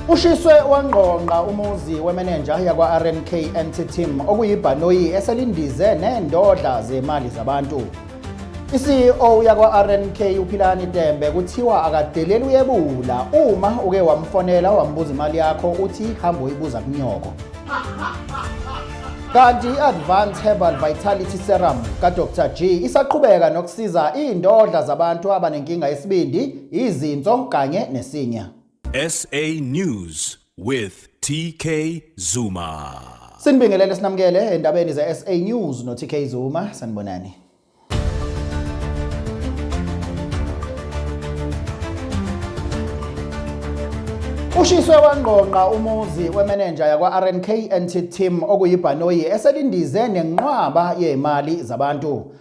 Ushiswe wangqongqa umuzi wemenenja yakwa-RMK Anti-Team okuyibhanoyi eselindize nendodla zemali zabantu. I-CEO yakwa-RNK uPhilani Tembe kuthiwa akadeleli uyebula uma uke wamfonela wambuza imali yakho uthi hamba uyibuza kunyoko. Kanti i-Advanced Herbal Vitality Serum kaDr G isaqhubeka nokusiza iy'ndodla zabantu abanenkinga yesibindi izinso kanye nesinya. SA News with TK Zuma. Sinibingelele sinamukele endabeni ze SA News no TK Zuma sanibonani. Ushiswe wangqongqa umuzi wemenenja yakwa-RNK NT Team okuyibhanoyi eselindize nenqwaba yemali zabantu.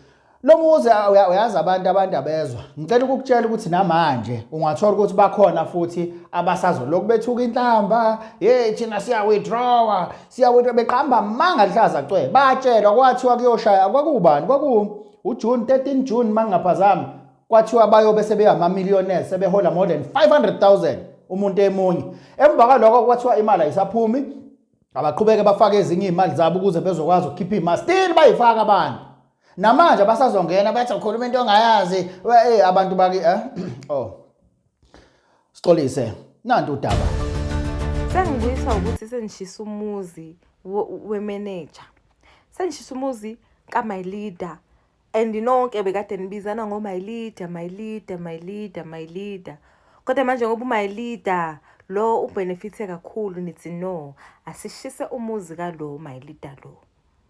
Lo muzi uyazi abantu abantu abezwa. Ngicela ukukutshela ukuthi namanje ungathola ukuthi bakhona futhi abasazoloku bethuka inhlamba, hey thina siya withdraw, siya withdraw beqamba manga lihlaza cwe. Batshelwa kwathiwa kuyoshaya kwakubani? Kwaku uJune 13 June mangaphazami. Kwathiwa bayobe sebeyama millionaires sebehola more than 500,000 umuntu emunye. Emva kwaloko kwathiwa imali ayisaphumi. Abaqhubeke bafake ezinye imali zabo ukuze bezokwazi ukukhipha imali. Still bayifaka abantu. namanje abasazongena bathi ukhuluma into ongayazi eh abantu baki eh oh sixolise nantu udaba sengibuyiswa ukuthi sengishisa umuzi wemeneja sengishisa umuzi ka my leader and nonke bekade nibizana ngo my leader my leader my leader my leader kodwa manje ngoba u my leader lo ubenefithe kakhulu nithi no asishise umuzi ka lo my leader lo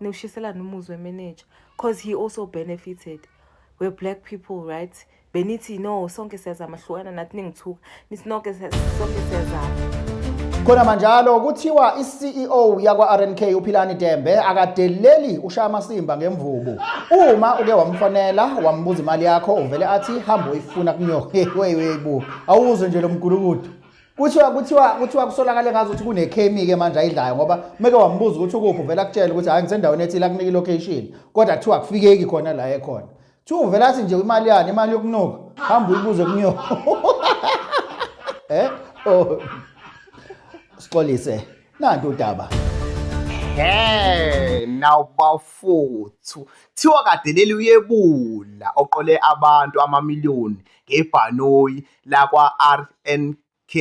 niwushiselana umuzi wemeneja cause he also benefited we're black people right benithi no sonke siyazama hlukana nathi ningithuka nithi nonke sonke siyazama khona manjalo kuthiwa i-ceo yakwa-rnk uphilani dembe akadeleli ushaya amasimba ngemvubu uma uke wamfonela wambuza imali yakho uvele athi hambe uyifuna kunyohewewebu awuzwe nje lo mgulukudu kuthiwa kuthiwa kuthiwa kusolakale ngazo ukuthi kunekhemi ke manje ayidlayo ngoba umeke wambuza ukuthi ukuphi uvela kutshela ukuthi hayi ngisendaweni ethile akunika ilocation kodwa kuthiwa akufikeki khona la ekhona kuthiwa uvela athi nje imali yani imali yokunuka hamba uyibuze kunyoko eh oh sixolise nanti udaba Hey now bafuthu thiwa kadeleli uyebula oqole abantu amamiliyoni ngebhanoyi lakwa-RNK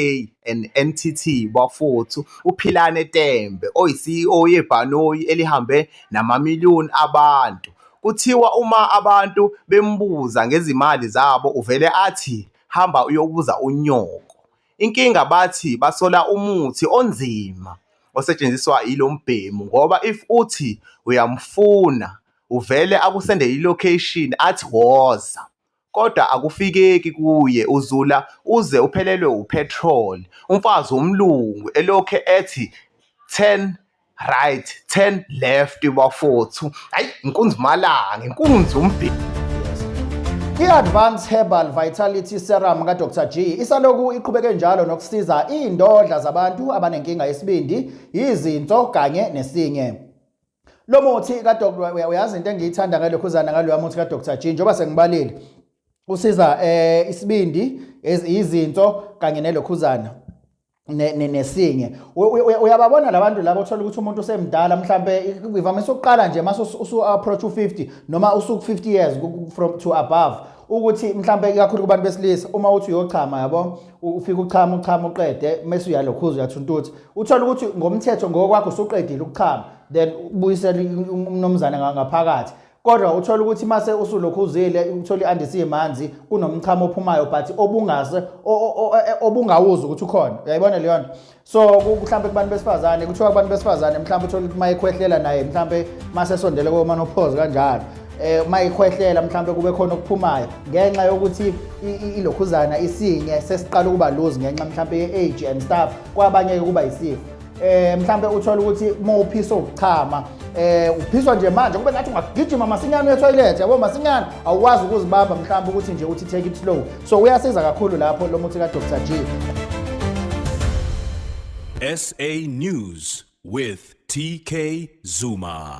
neNTT bafowethu uPhilane Tembe oyiCEO yebhanoyi elihambe namamiliyoni abantu. Kuthiwa uma abantu bembuza ngezimali zabo uvele athi hamba uyobuza unyoko. Inkinga bathi basola umuthi onzima osetshenziswa yilo mbhemu ngoba if uthi uyamfuna uvele akusendele i-location athi woza. kodwa akufikeki kuye uzula uze uphelelwe upetrol umfazi womlungu elokhe ethi turn right turn left bafowethu hayi inkunzi malanga inkunzi umbheki I-Advanced Herbal Vitality Serum kaDr G isaloku iqhubeke njalo nokusiza iy'ndodla zabantu abanenkinga yesibindi, yizinso kanye nesinye. lo muthi kadoktor uyazi into engiyithanda ngalokhuzana ngaloya muthi kadoktor G njengoba sengibalile usiza eh isibindi izinto kanye nelokhuzana nesinye uyababona labantu labo uthola ukuthi umuntu usemdala mhlambe ivamise ukuqala nje mase usu approach u50 noma usuku 50 years from to above ukuthi mhlambe ikakhulu kubantu besilisa uma uthi uyochama yabo ufike uchama uchama uqede mese uyalokhuza uyathuntuthi uthola ukuthi ngomthetho ngokwakho usuqedile ukuchama then ubuyisela um-, umnomzane ngaphakathi kodwa uthola ukuthi mase usulokhuzile uthola iandisi yemanzi kunomchamo ophumayo but obungase e, obungawuzi ukuthi ukhona uyayibona leyo nto so mhlawumbe kubantu besifazane kuthiwa kubantu besifazane mhlawumbe uthole ukuthi uma ekhwehlela naye mhlawumbe uma sesondele komanophozi kanjalo um uma ekhwehlela mhlawumbe kube khona okuphumayo ngenxa yokuthi ilokhuzana isinye sesiqala ukuba luzi ngenxa mhlawumbe ye-age and stuff kwabanye-ke kuba yisifo eh mhlambe uthola ukuthi uma uphisa ukuchama eh uphiswa nje manje kube ngathi ungagijima masinyane etoilet yabo masinyane awukwazi ukuzibamba mhlambe ukuthi nje uthi take it slow so uyasiza kakhulu lapho lo muthi kadr g sa news with tk zuma